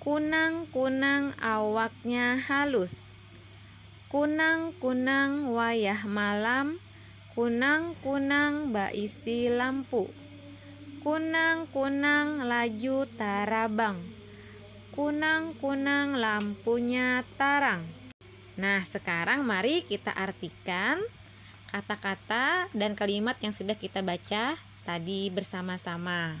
Kunang-kunang awaknya halus. Kunang-kunang wayah malam kunang-kunang baisi lampu. Kunang-kunang laju tarabang. Kunang-kunang lampunya tarang. Nah, sekarang mari kita artikan kata-kata dan kalimat yang sudah kita baca tadi bersama-sama.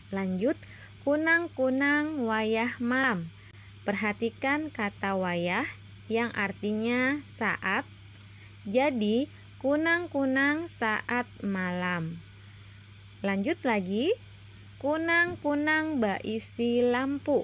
Lanjut, Kunang-kunang wayah malam. Perhatikan kata wayah yang artinya saat, jadi kunang-kunang saat malam. Lanjut lagi, Kunang-kunang baisi lampu.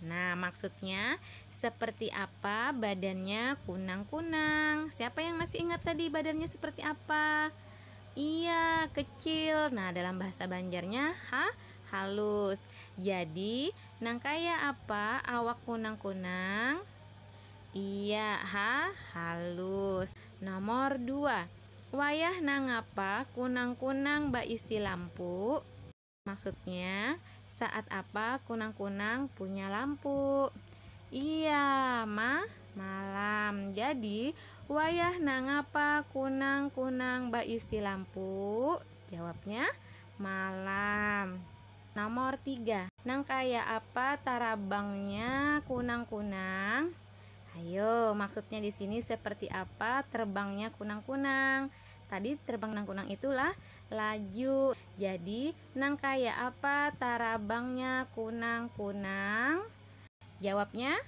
Nah, maksudnya seperti apa badannya kunang-kunang? Siapa yang masih ingat tadi badannya seperti apa? Iya, kecil. Nah, dalam bahasa Banjarnya ha halus. Jadi, nang kaya apa awak kunang-kunang? Iya, ha halus. Nomor dua, wayah nangapa kunang-kunang baisi lampu? Maksudnya, saat apa kunang-kunang punya lampu? Iya, ma, malam. Jadi, wayah nangapa kunang-kunang baisi lampu? Jawabnya, malam. Nomor tiga. Nang kaya apa tarabangnya kunang-kunang? Hayo, maksudnya di sini seperti apa terbangnya kunang-kunang? Tadi terbang kunang-kunang itu lah Laju, jadi nang kaya apa tarabangnya kunang-kunang? Jawabnya,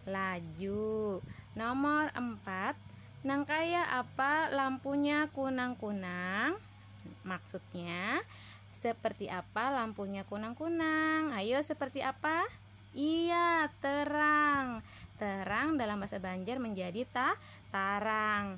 laju. Nomor empat, nang kaya apa lampunya kunang-kunang? Maksudnya, seperti apa lampunya kunang-kunang? Hayo, seperti apa? Iya, terang. Terang dalam bahasa Banjar menjadi ta, tarang.